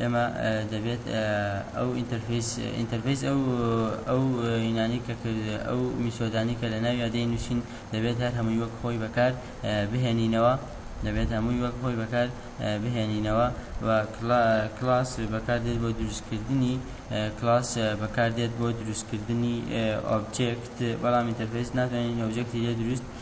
ئێمە دەبێت ئەو ئینتەرفەیس ئینتەرفەیس ئەو ئەو یونانی کە کرد ئەو میسۆدانی کە لە ناویا دەینووسین دەبێت هەر هەمووی وەک خۆی بەکار بهێنینەوە دەبێت هەمووی وەک خۆی بەکار بهێنینەوە و کلاس بەکاردێت بۆ دروستکردنی کلاس بەکاردێت بۆ دروستکردنی ئۆبجێکت بەڵام ئینتەرفێس ناتوانین ئۆبجێکتی لێ دروست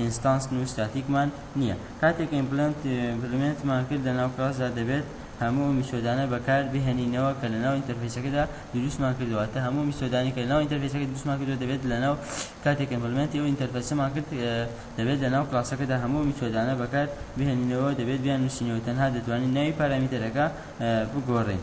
ئینستانس و ستاتیکمان نییە. کاتێک ئیمپلمێنتمان کرد لەناو کڵاسدا دەبێت هەموو ئەو میتۆدانە بەکار بهێنینەوە کە لەناو ئینتەرفەیسەکەدا دروستمان کردووە واتە هەموو میتۆدانێک کە لەناو ئینتەرفەیسەکە دروستمان کردووە دەبێت لەناو کاتێک ئیمپلمێنتی ئەو ئینتەرفەیسەمان کرد دەبێت لەناو کڵاسەکەدا هەموو ئەو میتۆدانە بەکار بهێنینەوە دەبێت بیاننووسینەوە تەنها دەتوانین ناوی پارامێتەرەکە بگۆڕین.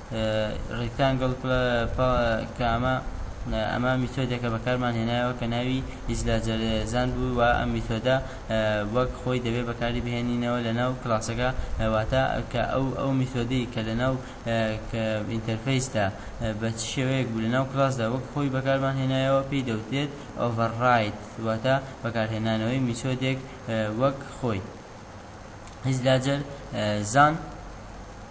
Rectangle Pkma ئەمە میتۆدێکە بەکارمان هێنایەوە کە ناوی Islagerezan بوو و ئەم میتۆدە وەک خۆی دەبێ بەکاری بهێنینەوە لەناو کلاسەکە واتە کە ئەو ئەو میتۆدەی کە لەناو ئینتەرفەیسدا بە چ شێوەیەک بوو لەناو کلاسدا وەک خۆی بەکارمان هێنایەوە پێی دەوترێت Override واتە بەکارهێنانەوەی میتۆدێک وەک خۆی Islagerezan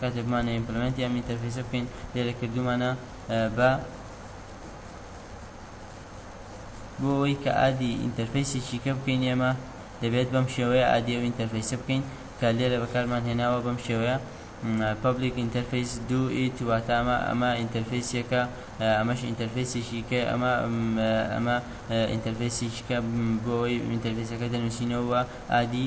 کاتێک بمانەوێ ئیمپلمێنتی ئەم ئینتەرفەیسە بکەین لێرە کردوومانە بە بۆ ئەوەی کە ئادی ئینتەرفەیسێکی کە بکەین ئێمە دەبێت بەم شێوەیە ئادی ئەو ئینتەرفەیسە بکەین کە لێرە بەکارمان هێناوە بەم شێوەیە پبلیک ئینتەرفەیس دو ئیت واتە ئەمە ئەمە ئینتەرفەیسێکە ئەمەش ئینتەرفەیسێکی کە ئەمە ئەمە ئینتەرفەیسێکیکە بۆ ئەوەی ئینتەرفەیسەکە دەنووسینەوە ئادی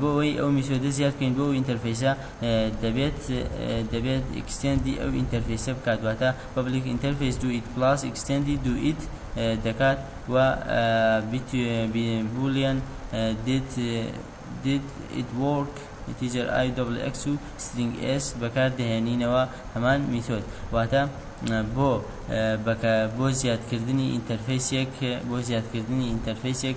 بۆ ئەوەی ئەو میتۆدە زیاد بکەین بۆ ئەو ئینتەرفەیسە دەبێت دەبێت ئیکستێندی ئەو ئینتەرفەیسە بکات واتە پەبلیک ئینتەرفەیس دوو ئیت پڵاس ئیکستێندی دوو ئیت دەکات و بولیەن دیت دیت ئیت وۆرک ئیتیجەر ئای دەبڵ ئێکس و سترینگ ئێس بەکار دەهێنینەوە هەمان میتۆد واتە بۆ بۆ زیادکردنی ئینتەرفەیسێک بۆ زیادکردنی ئینتەرفەیسێک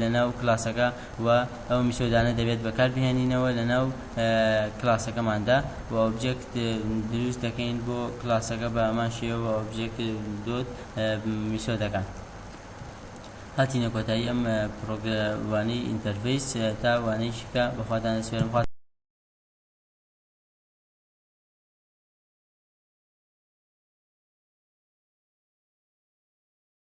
لەناو کلاسەکە و ئەو میتۆدانە دەبێت بەکار بهێنینەوە لەناو کلاسەکەماندا و ئۆبجێکت دروست دەکەین بۆ کلاسەکە بە هەمان شێوە ئۆبجێکت دۆت میتۆدەکان هاتینە کۆتایی ئەم پرۆگراموانەی ئینتەرفیس تا وانەی شکا بەخواتان سوێرم